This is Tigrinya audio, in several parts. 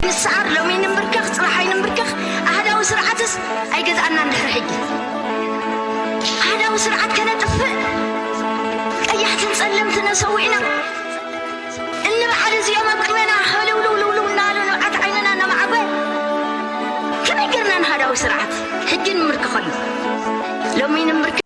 ንስዓር ሎሚ ይንብርከኽ ጽባሕ ኣይንብርከኽ ኣሃዳዊ ስርዓትስ ኣይገዝኣናን ድሕሪ ሕጂ ኣሃዳዊ ስርዓት ከነጥፍእ ቀያሕትን ጸለምትን ኣሰዊእና እንብዓል እዚኦም ኣብ ቅድሜና ህልውልውልውልው እናበሉ ንብዓት ዓይንና እናማዓጎ ከመይ ጌርና ንሃዳዊ ስርዓት ሕጂ ንምርከኸሉ ሎሚ ይንብርከኽ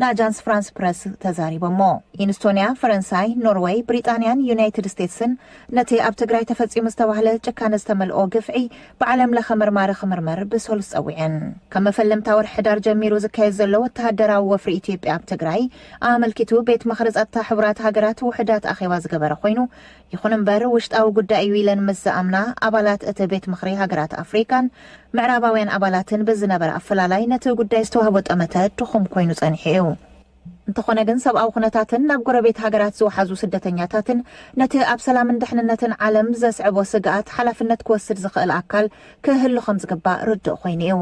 ንኣጃንስ ፍራንስ ፕረስ ተዛሪቦሞ። ኢንስቶንያ፣ ፈረንሳይ፣ ኖርወይ፣ ብሪጣንያን ዩናይትድ ስቴትስን ነቲ ኣብ ትግራይ ተፈጺሙ ዝተባህለ ጭካነ ዝተመልኦ ግፍዒ ብዓለም ለኸ መርማሪ ክምርመር ብሰሉስ ጸዊዐን። ካብ መፈለምታ ወርሒ ሕዳር ጀሚሩ ዝካየድ ዘሎ ወተሃደራዊ ወፍሪ ኢትዮጵያ ኣብ ትግራይ ኣመልኪቱ ቤት ምኽሪ ጸጥታ ሕቡራት ሃገራት ውሑዳት ኣኼባ ዝገበረ ኮይኑ ይኹን እምበር ውሽጣዊ ጉዳይ እዩ ኢለን ምስ ዝኣምና ኣባላት እቲ ቤት ምኽሪ ሃገራት ኣፍሪካን ምዕራባውያን ኣባላትን ብዝነበረ ኣፈላላይ ነቲ ጉዳይ ዝተዋህቦ ጠመተ ድኹም ኮይኑ ፀኒሑ እዩ። እንተኾነ ግን ሰብኣዊ ኩነታትን ናብ ጎረቤት ሃገራት ዝወሓዙ ስደተኛታትን ነቲ ኣብ ሰላምን ድሕንነትን ዓለም ዘስዕቦ ስግኣት ሓላፍነት ክወስድ ዝኽእል ኣካል ክህሉ ከምዝግባእ ርዱእ ኮይኑ እዩ።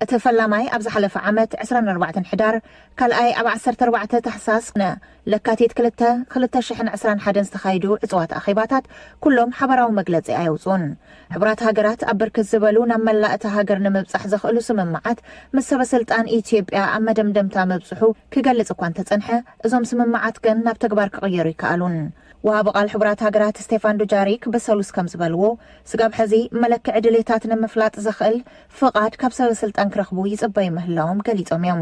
እቲ ፈላማይ ኣብ ዝሓለፈ ዓመት ዕስራን ኣርባዕተን ሕዳር ካልኣይ ኣብ ዓሰርተ ኣርባዕተ ታሕሳስ ን ለካቲት ክልተ ክልተ ሽሕን ዕስራን ሓደን ዝተኻይዱ ዕጽዋት ኣኼባታት ኩሎም ሓባራዊ መግለጺ ኣየውጽኡን። ሕቡራት ሃገራት ኣብ ብርክት ዝበሉ ናብ መላእ እታ ሃገር ንምብጻሕ ዘኽእሉ ስምምዓት ምስ ሰበስልጣን ኢትዮጵያ ኣብ መደምደምታ ምብጽሑ ክገልጽ እኳ እንተጸንሐ እዞም ስምምዓት ግን ናብ ተግባር ክቕየሩ ኣይከኣሉን። ወሃቢ ቃል ሕቡራት ሃገራት ስቴፋን ዱጃሪክ ብሰሉስ ከምዝበልዎ ስጋብ ሕዚ መለክዒ ድሌታት ንምፍላጥ ዘኽእል ፍቓድ ካብ ሰበስልጣን ክረኽቡ ይጽበዩ ምህላዎም ገሊጾም እዮም።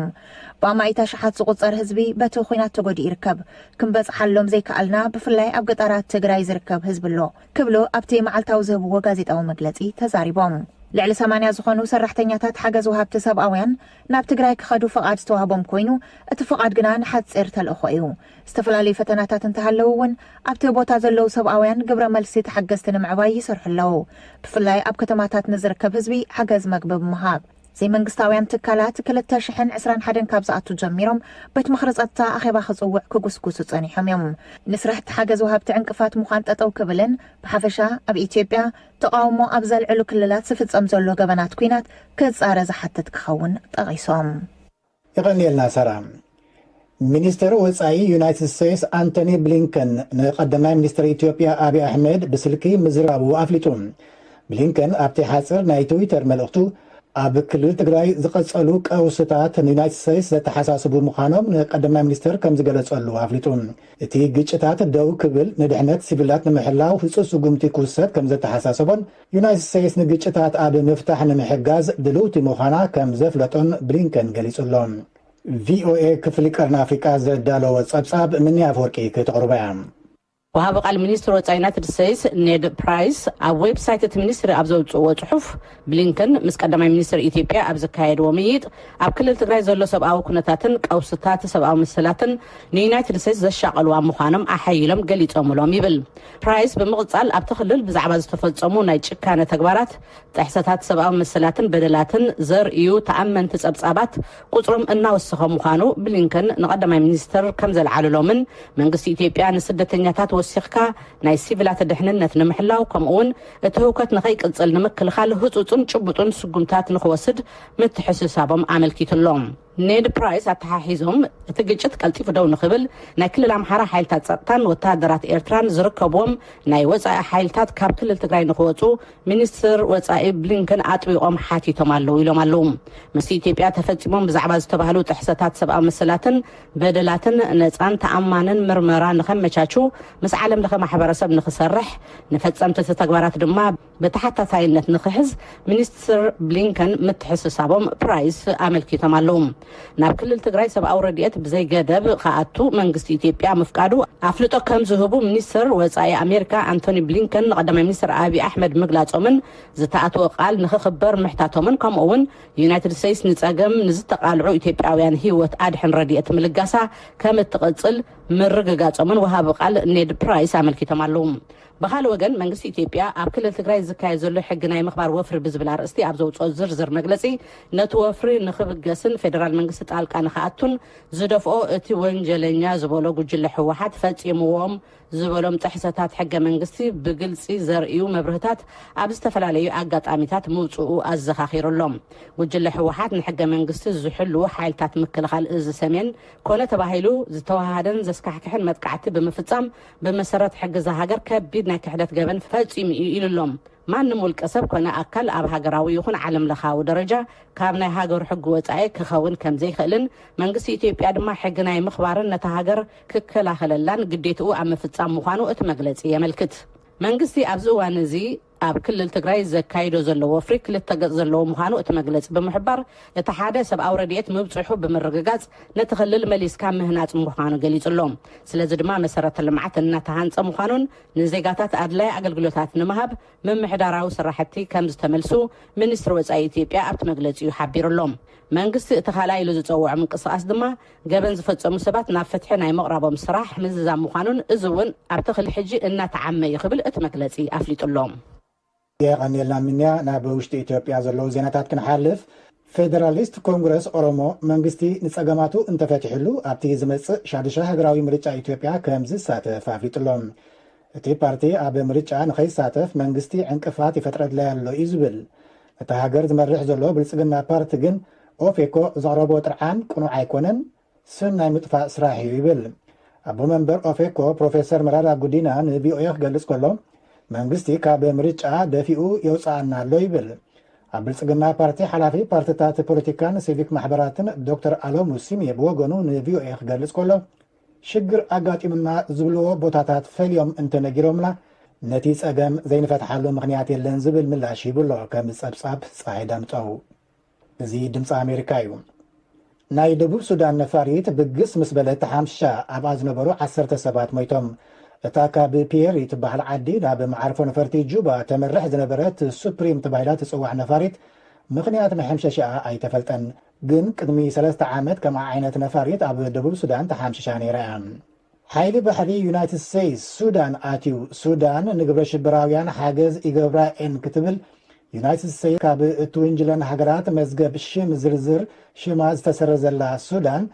ብኣማኢት ኣሽሓት ዝቑጸር ህዝቢ በቲ ኹናት ተጎዲኡ ይርከብ። ክንበጽሓሎም ዘይከኣልና ብፍላይ ኣብ ገጣራት ትግራይ ዝርከብ ህዝቢ ኣሎ ክብሉ ኣብቲ መዓልታዊ ዝህብዎ ጋዜጣዊ መግለጺ ተዛሪቦም። ልዕሊ ሰማንያ ዝኾኑ ሰራሕተኛታት ሓገዝ ወሃብቲ ሰብኣውያን ናብ ትግራይ ክኸዱ ፍቓድ ዝተዋህቦም ኮይኑ እቲ ፍቓድ ግና ንሓጺር ተልእኾ እዩ። ዝተፈላለዩ ፈተናታት እንተሃለዉ እውን ኣብቲ ቦታ ዘለዉ ሰብኣውያን ግብረ መልሲ ተሓገዝቲ ንምዕባይ ይሰርሑ ኣለዉ። ብፍላይ ኣብ ከተማታት ንዝርከብ ህዝቢ ሓገዝ መግቢ ብምሃብ። ዘይመንግስታውያን ትካላት ክልተ ሽሕን ዕስራን ሓደን ካብ ዝኣቱ ጀሚሮም ቤት ምኽሪ ፀጥታ ኣኼባ ክፅውዕ ክጉስጉሱ ፀኒሖም እዮም። ንስራሕቲ ሓገዝ ወሃብቲ ዕንቅፋት ምዃን ጠጠው ክብልን ብሓፈሻ ኣብ ኢትዮጵያ ተቓውሞ ኣብ ዘልዕሉ ክልላት ዝፍፀም ዘሎ ገበናት ኲናት ክፃረ ዝሓትት ክኸውን ጠቒሶም። የቐንየልና ሳራ። ሚኒስተር ወጻኢ ዩናይትድ ስቴትስ ኣንቶኒ ብሊንከን ንቀዳማይ ሚኒስተር ኢትዮጵያ ኣብዪ ኣሕመድ ብስልኪ ምዝራቡ ኣፍሊጡ። ብሊንከን ኣብቲ ሓጺር ናይ ትዊተር መልእኽቱ፣ ኣብ ክልል ትግራይ ዝቐጸሉ ቀውስታት ንዩናይትድ ስቴትስ ዘተሓሳስቡ ምዃኖም ንቀዳማይ ሚኒስተር ከምዝገለጸሉ ኣፍሊጡ። እቲ ግጭታት ደው ክብል ንድሕነት ሲቪላት ንምሕላው ህጹጽ ስጉምቲ ክውሰድ ከምዘተሓሳሰቦን ዩናይትድ ስቴትስ ንግጭታት ኣብ ምፍታሕ ንምሕጋዝ ድልውቲ ምዃና ከም ዘፍለጦን ብሊንከን ገሊጹ ኣሎ። ቪኦኤ ክፍሊ ቀርኒ ኣፍሪቃ ዘዳለዎ ጸብጻብ ምኒ ኣፍወርቂ ክተቕርቦ እያ። ወሃቢ ቃል ሚኒስትሪ ወፃኢ ዩናይትድ ስቴትስ ኔድ ፕራይስ ኣብ ዌብሳይት እቲ ሚኒስትሪ ኣብ ዘውፅእዎ ፅሑፍ ብሊንከን ምስ ቀዳማይ ሚኒስትር ኢትዮጵያ ኣብ ዘካየድዎ ምይይጥ ኣብ ክልል ትግራይ ዘሎ ሰብኣዊ ኩነታትን ቀውስታት ሰብኣዊ መሰላትን ንዩናይትድ ስቴትስ ዘሻቐልዋ ምዃኖም ኣሐይሎም ገሊፆምሎም ይብል ፕራይስ ብምቕጻል ኣብቲ ክልል ብዛዕባ ዝተፈጸሙ ናይ ጭካነ ተግባራት፣ ጥሕሰታት ሰብኣዊ መሰላትን በደላትን ዘርእዩ ተኣመንቲ ጸብጻባት ቁጽሮም እናወሰኸ ምዃኑ ብሊንከን ንቀዳማይ ሚኒስትር ከምዘልዓሉሎምን መንግስቲ ኢትዮጵያ ንስደተኛታት ወሲኽካ ናይ ሲቪላት ድሕንነት ንምሕላው ከምኡ'ውን እቲ ህውከት ንከይቅጽል ንምክልኻል ህጹጽን ጭቡጥን ስጉምታት ንክወስድ ምትሕስሳቦም ኣመልኪቱ'ሎ። ኔድ ፕራይስ ኣተሓሒዞም፣ እቲ ግጭት ቀልጢፉ ደው ንክብል ናይ ክልል ኣምሓራ ሓይልታት ፀጥታን ወተሃደራት ኤርትራን ዝርከብዎም ናይ ወፃኢ ሓይልታት ካብ ክልል ትግራይ ንክወፁ ሚኒስትር ወፃኢ ብሊንከን ኣጥቢቖም ሓቲቶም ኣለው ኢሎም ኣለው። ምስ ኢትዮጵያ ተፈፂሞም ብዛዕባ ዝተባህሉ ጥሕሰታት ሰብኣዊ መሰላትን በደላትን ነፃን ተኣማንን ምርመራ ንከመቻቹ ምስ ዓለም ለኸ ማሕበረሰብ ንክሰርሕ ንፈፀምቲ እቲ ተግባራት ድማ ብተሓታታይነት ንክሕዝ ሚኒስትር ብሊንከን ምትሕስሳቦም ፕራይስ ኣመልኪቶም ኣለዉ። ናብ ክልል ትግራይ ሰብኣዊ ረድኤት ብዘይገደብ ክኣቱ መንግስቲ ኢትዮጵያ ምፍቃዱ ኣፍልጦ ከምዝህቡ ሚኒስትር ወፃኢ ኣሜሪካ ኣንቶኒ ብሊንከን ንቀዳማይ ሚኒስትር ኣብዪ ኣሕመድ ምግላፆምን ዝተኣተወ ቃል ንክኽበር ምሕታቶምን ከምኡ እውን ዩናይትድ ስቴትስ ንፀገም ንዝተቓልዑ ኢትዮጵያውያን ህይወት ኣድሕን ረድኤት ምልጋሳ ከምትቕፅል ምርግጋፆምን ወሃቢ ቃል ኔድ ፕራይስ ኣመልኪቶም ኣለዉ። ብኻልእ ወገን መንግስቲ ኢትዮጵያ ኣብ ክልል ትግራይ ዝካየድ ዘሎ ሕጊ ናይ ምኽባር ወፍሪ ብዝብል ኣርእስቲ ኣብ ዘውፅኦ ዝርዝር መግለፂ ነቲ ወፍሪ ንኽብገስን ፌደራል መንግስቲ ጣልቃ ንኽኣቱን ዝደፍኦ እቲ ወንጀለኛ ዝበሎ ጉጅለ ህወሓት ፈፂምዎም ዝበሎም ጥሕሰታት ሕገ መንግስቲ ብግልፂ ዘርእዩ መብርህታት ኣብ ዝተፈላለዩ ኣጋጣሚታት ምውፅኡ ኣዘኻኺሩ ኣሎ። ጉጅለ ህወሓት ንሕገ መንግስቲ ዝሕልዉ ሓይልታት ምክልኻል እዚ ሰሜን ኮነ ተባሂሉ ዝተወሃሃደን ዘስካሕክሕን መጥቃዕቲ ብምፍፃም ብመሰረት ሕጊ እዛ ሃገር ከቢድ ናይ ክሕደት ገበን ፈጺሙ እዩ ኢሉ ኣሎ። ማንም ውልቀ ሰብ ኮነ ኣካል ኣብ ሃገራዊ ይኹን ዓለም ለኻዊ ደረጃ ካብ ናይ ሃገሩ ሕጊ ወጻኢ ክኸውን ከም ዘይክእልን መንግስቲ ኢትዮጵያ ድማ ሕጊ ናይ ምኽባርን ነታ ሃገር ክከላኸለላን ግዴትኡ ኣብ ምፍጻም ምዃኑ እቲ መግለጺ የመልክት። መንግስቲ ኣብዚ እዋን እዚ ኣብ ክልል ትግራይ ዘካይዶ ዘሎ ወፍሪ ክልተ ገፅ ዘለዎ ምዃኑ እቲ መግለፂ ብምሕባር፣ እቲ ሓደ ሰብኣዊ ረድኤት ምብፅሑ ብምርግጋፅ ነቲ ክልል መሊስካ ምህናፅ ምዃኑ ገሊፁ'ሎ። ስለዚ ድማ መሰረተ ልምዓት እናተሃንፀ ምዃኑን ንዜጋታት ኣድላይ ኣገልግሎታት ንምሃብ ምምሕዳራዊ ስራሕቲ ከምዝተመልሱ ሚኒስትሪ ወፃኢ ኢትዮጵያ ኣብቲ መግለፂኡ ሓቢሩ'ሎ። መንግስቲ እቲ ካልኣይ ኢሉ ዝፀውዖ ምንቅስቓስ ድማ ገበን ዝፈፀሙ ሰባት ናብ ፍትሒ ናይ ምቕራቦም ስራሕ ምዝዛም ምዃኑን እዚ እውን ኣብቲ ክሊ ሕጂ እናተዓመ እዩ ክብል እቲ መግለፂ ኣፍሊጡ ኣሎ። የቐንየልና ምንያ ናብ ውሽጢ ኢትዮጵያ ዘለዉ ዜናታት ክንሓልፍ ፌደራሊስት ኮንግረስ ኦሮሞ መንግስቲ ንፀገማቱ እንተፈቲሕሉ ኣብቲ ዝመፅእ ሻዱሻይ ሃገራዊ ምርጫ ኢትዮጵያ ከምዝሳተፍ ኣፍሊጡ ኣሎ። እቲ ፓርቲ ኣብ ምርጫ ንኸይሳተፍ መንግስቲ ዕንቅፋት ይፈጥረለይ ኣሎ እዩ ዝብል። ነታ ሃገር ዝመርሕ ዘሎ ብልፅግና ፓርቲ ግን ኦፌኮ ዘቕረቦ ጥርዓን ቅኑዕ ኣይኮነን፣ ስም ናይ ምጥፋእ ስራሕ እዩ ይብል። ኣቦ መንበር ኦፌኮ ፕሮፌሰር መረራ ጉዲና ንቪኦኤ ክገልፅ ከሎ መንግስቲ ካብ ምርጫ ደፊኡ የውፅኣና ኣሎ ይብል። ኣብ ብልፅግና ፓርቲ ሓላፊ ፓርትታት ፖለቲካን ሲቪክ ማሕበራትን ዶክተር ኣለሙ ሲሜ ብወገኑ ንቪኦኤ ክገልፅ ከሎ፣ ሽግር ኣጋጢሙና ዝብልዎ ቦታታት ፈልዮም እንተነጊሮምና ነቲ ፀገም ዘይንፈትሓሉ ምኽንያት የለን ዝብል ምላሽ ሂቡ ኣሎ ከም ፀብፃብ ፀሃይ ዳምጠው። እዚ ድምፂ ኣሜሪካ እዩ። ናይ ደቡብ ሱዳን ነፋሪት ብግስ ምስ በለት ሓምሻ ኣብኣ ዝነበሩ ዓሰርተ ሰባት ሞይቶም። እታ ካብ ፒየሪ ትበሃል ዓዲ ናብ መዓርፎ ነፈርቲ ጁባ ተምርሕ ዝነበረት ሱፕሪም ተባሂላ ትፅዋዕ ነፋሪት ምኽንያት መሐምሸሽኣ ኣይተፈልጠን። ግን ቅድሚ ሰለስተ ዓመት ከምኣ ዓይነት ነፋሪት ኣብ ደቡብ ሱዳን ተሓምሺሻ ነይራ እያ። ሓይሊ ባሕሪ ዩናይትድ ስተይስ ሱዳን ኣትዩ፣ ሱዳን ንግብረሽበራውያን ሓገዝ ይገብራ እየን ክትብል ዩናይትድ ስተይስ ካብ እትውንጅለን ሃገራት መዝገብ ሽም ዝርዝር ሽማ ዝተሰረዘላ ሱዳን፣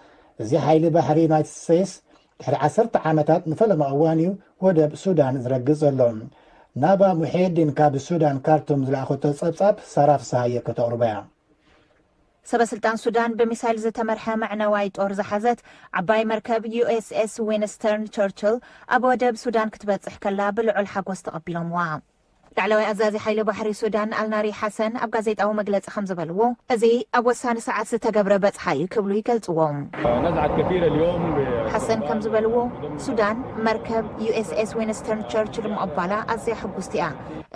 እዚ ሓይሊ ባሕሪ ዩናይትድ ስተይስ ድሕሪ ዓሰርተ ዓመታት ንፈለማ እዋን እዩ ወደብ ሱዳን ዝረግጽ ዘሎ። ናባ ሙሒየዲን ካብ ሱዳን ካርቱም ዝለኣኸቶ ጸብጻብ ሳራ ፍስሃየ ከተቕርቦ እያ። ሰበስልጣን ሱዳን ብሚሳይል ዝተመርሐ መዕነዋይ ጦር ዝሓዘት ዓባይ መርከብ ዩኤስኤስ ዊንስተርን ቸርችል ኣብ ወደብ ሱዳን ክትበጽሕ ከላ ብልዑል ሓጎስ ተቐቢሎምዋ። ላዕለዋይ ኣዛዚ ሓይሊ ባሕሪ ሱዳን ኣልናሪ ሓሰን ኣብ ጋዜጣዊ መግለጺ ከም ዝበልዎ፣ እዚ ኣብ ወሳኒ ሰዓት ዝተገብረ በጽሓ እዩ ክብሉ ይገልጽዎ። ሓሰን ከም ዝበልዎ፣ ሱዳን መርከብ ዩኤስኤስ ዊንስተርን ቸርችል ምቕባላ ኣዝያ ሕጉስቲ እያ።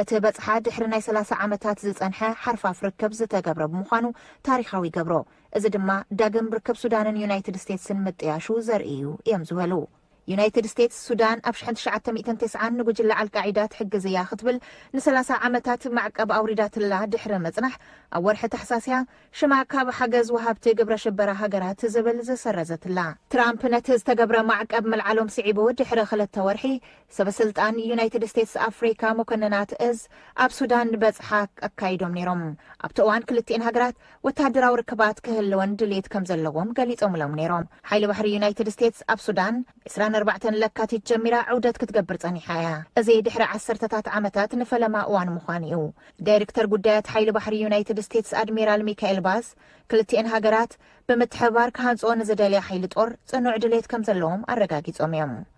እቲ በጽሓ ድሕሪ ናይ ሰላሳ ዓመታት ዝጸንሐ ሓርፋፍ ርክብ ዝተገብረ ብምዃኑ ታሪኻዊ ይገብሮ። እዚ ድማ ዳግም ርክብ ሱዳንን ዩናይትድ ስቴትስን ምጥያሹ ዘርኢ እዩ እዮም ዝበሉ። ዩናይትድ ስቴትስ፣ ሱዳን ኣብ ሽሕን ትሽዓተ ሚእትን ቴስዓን ንጉጅለ ዓልቃዒዳ ትሕግዝ እያ ክትብል ንሰላሳ ዓመታት ማዕቀብ ኣውሪዳትላ ድሕሪ ምጽናሕ፣ ኣብ ወርሒ ታሕሳስ እያ ሽማ ካብ ሓገዝ ወሃብቲ ግብረ ሽበራ ሃገራት ዝብል ዝሰረዘትላ። ትራምፕ ነቲ ዝተገብረ ማዕቀብ ምልዓሎም ስዒቡ ድሕሪ ክልተ ወርሒ፣ ሰበስልጣን ዩናይትድ ስቴትስ ኣፍሪካ መኮንናት እዝ ኣብ ሱዳን በፅሓ ኣካይዶም ነይሮም። ኣብቲ እዋን ክልቲኤን ሃገራት ወታደራዊ ርክባት ክህልወን ድልየት ከምዘለዎም ገሊፆምሎም ነይሮም። ሓይሊ ባሕሪ ዩናይትድ ስቴትስ ኣብ ሱዳን ዕስራን ኣርባዕተን ለካቲት ጀሚራ ዑደት ክትገብር ፀኒሓ እያ። እዚ ድሕሪ ዓሰርተታት ዓመታት ንፈለማ እዋን ምዃኑ እዩ። ዳይርክተር ጉዳያት ሓይሊ ባሕሪ ዩናይትድ ስቴትስ ኣድሚራል ሚካኤል ባዝ ክልቲኤን ሃገራት ብምትሕብባር ክሃንፅኦ ንዝደልያ ሓይሊ ጦር ፅኑዕ ድልየት ከምዘለዎም ኣረጋጊፆም እዮም።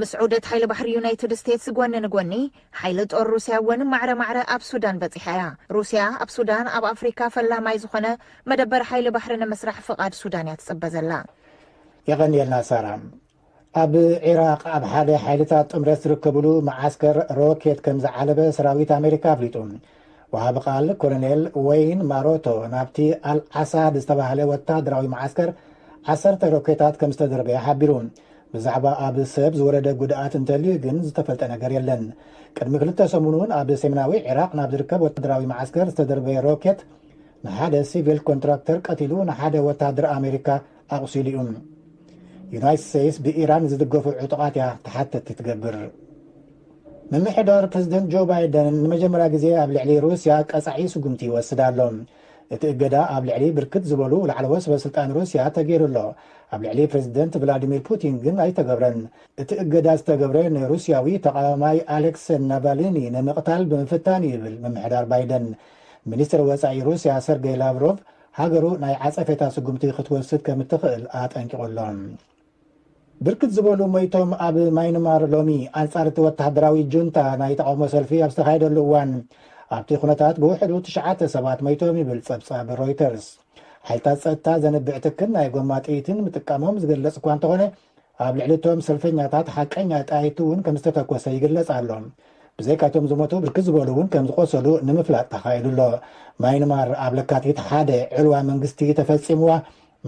ምስ ዑደት ሓይሊ ባሕሪ ዩናይትድ ስቴትስ ጎኒ ንጎኒ፣ ሓይሊ ጦር ሩስያ እውን ማዕረ ማዕረ ኣብ ሱዳን በጺሓ እያ። ሩስያ ኣብ ሱዳን ኣብ ኣፍሪካ ፈላማይ ዝኾነ መደበር ሓይሊ ባሕሪ ንምስራሕ ፍቓድ ሱዳን እያ ትጽበ ዘላ። የቐንየልና ሳራ። ኣብ ዒራቕ ኣብ ሓደ ሓይልታት ጥምረት ዝርከብሉ መዓስከር ሮኬት ከምዝዓለበ ሰራዊት ኣሜሪካ ኣፍሊጡ። ወሃቢ ቃል ኮሎኔል ወይን ማሮቶ ናብቲ ኣል ዓሳድ ዝተባህለ ወተሃደራዊ መዓስከር ዓሰርተ ሮኬታት ከም ዝተደርበያ ሓቢሩ። ብዛዕባ ኣብ ሰብ ዝወረደ ጉድኣት እንተልዩ ግን ዝተፈልጠ ነገር የለን። ቅድሚ ክልተ ሰሙን'ውን ኣብ ሰሜናዊ ዒራቕ ናብ ዝርከብ ወተሃደራዊ መዓስከር ዝተደርበየ ሮኬት ንሓደ ሲቪል ኮንትራክተር ቀቲሉ ንሓደ ወተሃደር ኣሜሪካ ኣቑሲሉ'ዩ። ዩናይትድ ስተይትስ ብኢራን ዝድገፉ ዕጡቓት'ያ ተሓተቲ ትገብር። ምምሕዳር ፕረዚደንት ጆ ባይደን ንመጀመርያ ግዜ ኣብ ልዕሊ ሩስያ ቀጻዒ ስጉምቲ ይወስድ ኣሎ። እቲ እገዳ ኣብ ልዕሊ ብርክት ዝበሉ ላዕለዎት ሰበስልጣን ሩስያ ተገይሩ ኣሎ። ኣብ ልዕሊ ፕረዚደንት ቭላድሚር ፑቲን ግን ኣይተገብረን። እቲ እገዳ ዝተገብረ ንሩስያዊ ተቓዋማይ ኣሌክስ ናቫሊኒ ንምቕታል ብምፍታን'ዩ ይብል ምምሕዳር ባይደን። ሚኒስተር ወጻኢ ሩስያ ሰርገይ ላቭሮቭ ሃገሩ ናይ ዓጸፌታ ስጉምቲ ክትወስድ ከም እትኽእል ኣጠንቂቑ ኣሎ። ብርክት ዝበሉ ሞይቶም ኣብ ማይንማር ሎሚ ኣንጻር እቲ ወተሃደራዊ ጁንታ ናይ ተቓውሞ ሰልፊ ኣብ ዝተኻየደሉ እዋን ኣብቲ ኩነታት ብውሕዱ ትሽዓተ ሰባት ሞይቶም ይብል ጸብጻብ ሮይተርስ። ሓይልታት ጸጥታ ዘንብዕ ትክን ናይ ጎማ ጥይትን ምጥቃሞም ዝግለጽ እኳ እንተኾነ ኣብ ልዕሊ እቶም ሰልፈኛታት ሓቀኛ ጠያይቲ እውን ከም ዝተተኮሰ ይግለጽ ኣሎ። ብዘይካ እቶም ዝሞቱ ብርክት ዝበሉ እውን ከም ዝቖሰሉ ንምፍላጥ ተኻኢሉ ኣሎ። ማይንማር ኣብ ለካቲት ሓደ ዕልዋ መንግስቲ ተፈጺምዋ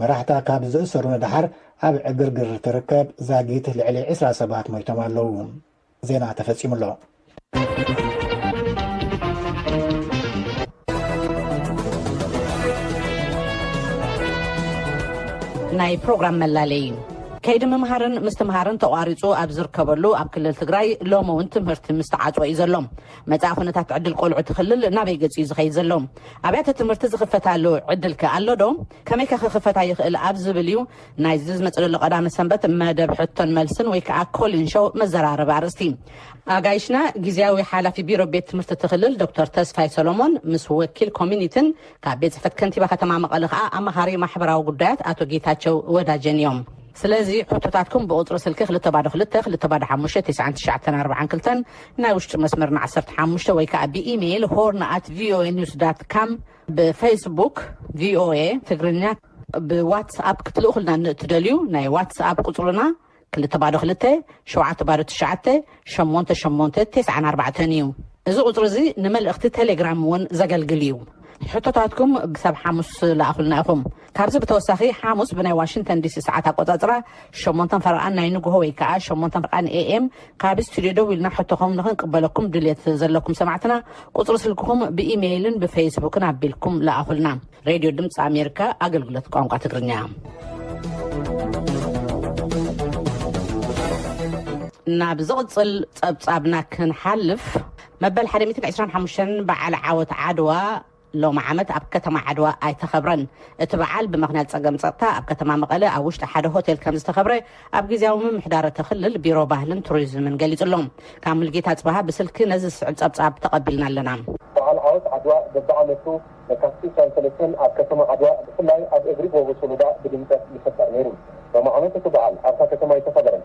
መራሕታ ካብ ዝእሰሩ ንደሓር ኣብ ዕግርግር ትርከብ ዛጊት ልዕሊ ዕስራ ሰባት ሞይቶም ኣለዉ። ዜና ተፈጺሙ ኣሎ። ናይ ፕሮግራም መላለዪ ከይዲ ምምሃርን ምስትምሃርን ተቋሪፁ ኣብ ዝርከበሉ ኣብ ክልል ትግራይ ሎሚ እውን ትምህርቲ ምስተዓፅወ እዩ ዘሎ። መጻኢ ኩነታት ዕድል ቆልዑ እቲ ክልል ናበይ ገጽ እዩ ዝኸይድ ዘሎ? ኣብያተ ትምህርቲ ዝኽፈታሉ ዕድል ከ ኣሎ ዶ? ከመይ ከ ክኽፈታ ይኽእል ኣብ ዝብል እዩ ናይዚ ዝመጽእ ዘሎ ቀዳመ ሰንበት መደብ ሕቶን መልስን ወይ ከኣ ኮሊን ሾው መዘራረቢ ኣርእስቲ። ኣጋይሽና ግዝያዊ ሓላፊ ቢሮ ቤት ትምህርቲ እቲ ክልል ዶክተር ተስፋይ ሰሎሞን ምስ ወኪል ኮሚኒትን ካብ ቤት ጽሕፈት ከንቲባ ከተማ መቐለ ከኣ ኣማኻሪ ማሕበራዊ ጉዳያት ኣቶ ጌታቸው ወዳጀን እዮም። ስለዚ ሕቶታትኩም ብቁጽሪ ስልኪ ክልተ ባዶ ክልተ፣ ክልተ ባዶ ሓሙሽተ፣ ትስዓን ትሽዓተን ኣርብዓን ክልተን፣ ናይ ውሽጢ መስመርና ዓሰርተ ሓሙሽተ፣ ወይ ከኣ ብኢሜይል ሆርን ኣት ቪኦኤ ኒውስ ዳት ካም፣ ብፈይስቡክ ቪኦኤ ትግርኛ፣ ብዋትስ ኣፕ ክትልእኹልና ንእትደልዩ ናይ ዋትስ ኣፕ ቁጽርና ክልተ ባዶ ክልተ፣ ሸውዓተ ባዶ ትሽዓተ፣ ሸሞንተ ሸሞንተ፣ ትስዓን ኣርባዕተን እዩ። እዚ ቁጽሪ እዚ ንመልእኽቲ ቴሌግራም እውን ዘገልግል እዩ። ሕቶታትኩም ብሰብ ሓሙስ ለኣኹልና ኢኹም። ካብዚ ብተወሳኺ ሓሙስ ብናይ ዋሽንግተን ዲሲ ሰዓት ኣቆጻጽራ ሸሞንተን ፈረቓን ናይ ንግሆ ወይ ከኣ ሸሞንተን ፈረቓን AM ካብ ስቱድዮ ደዊልና ሕቶኹም ንኽንቅበለኩም ድልየት ዘለኩም ሰማዕትና ቁጽሪ ስልክኹም ብኢመይልን ብፈይስቡክን ኣቢልኩም ለኣኹልና። ሬድዮ ድምጺ ኣሜሪካ ኣገልግሎት ቋንቋ ትግርኛ። ናብ ዝቕጽል ጸብጻብና ክንሓልፍ መበል ሓደ ሚእትን ዕስራን ሓሙሽተን በዓል ዓወት ዓድዋ ሎሚ ዓመት ኣብ ከተማ ዓድዋ ኣይተኸብረን። እቲ በዓል ብምኽንያት ፀገም ፀጥታ ኣብ ከተማ መቐለ ኣብ ውሽጢ ሓደ ሆቴል ከምዝተኸብረ ኣብ ጊዚያዊ ምምሕዳር እቲ ክልል ቢሮ ባህልን ቱሪዝምን ገሊፁ ኣሎ። ካብ ሙልጌታ ኣፅበሃ ብስልኪ ነዚ ዝስዕብ ፀብፃብ ተቐቢልና ኣለና። በዓል ዓወት ዓድዋ በቢዓመቱ ለካቲት ዕስራን ሰለስተን ኣብ ከተማ ዓድዋ ብፍላይ ኣብ እግሪ ጎቦ ሶሎዳ ብድምቀት ይኽበር ነይሩ። ሎሚ ዓመት እቲ በዓል ኣብታ ከተማ ኣይተኸበረን።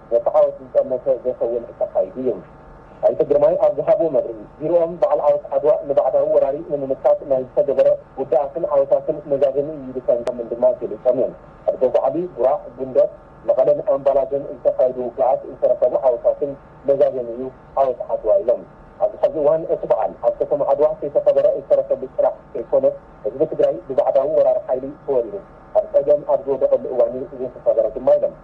ነቲ ዓወት ዝጠመተ ዘይከውን እንተካይዱ እዩ። ኣይተ ግርማይ ኣብ ዝሃብዎ መብርሂ፣ ቢሮኦም በዓል ዓወት ዓድዋ ንባዕዳዊ ወራሪ ንምምካት ናይ ዝተገበረ ውዳኣትን ዓወታትን መዛዘሚ እዩ ኢሉ ከምዝኣምን ድማ ገሊፆም እዮም። ኣብ ደጉዓሊ፣ ጉራዕ፣ ጉንደት፣ መቐለን ኣምባላገን ዝተኻየዱ ውግኣት ዝተረኸቡ ዓወታትን መዛዘሚ እዩ ዓወት ዓድዋ ኢሎም። ኣብዚ ሐዚ እዋን እቲ በዓል ኣብ ከተማ ዓድዋ ከይተኸበረ ዝተረፈሉ ጥራሕ ከይኮነስ ህዝቢ ትግራይ ብባዕዳዊ ወራሪ ሓይሊ ተወሪሩ ኣብ ፀገም ኣብ ዝወደቐሉ እዋን እዩ ዘይተኸበረ ድማ ኢሎም።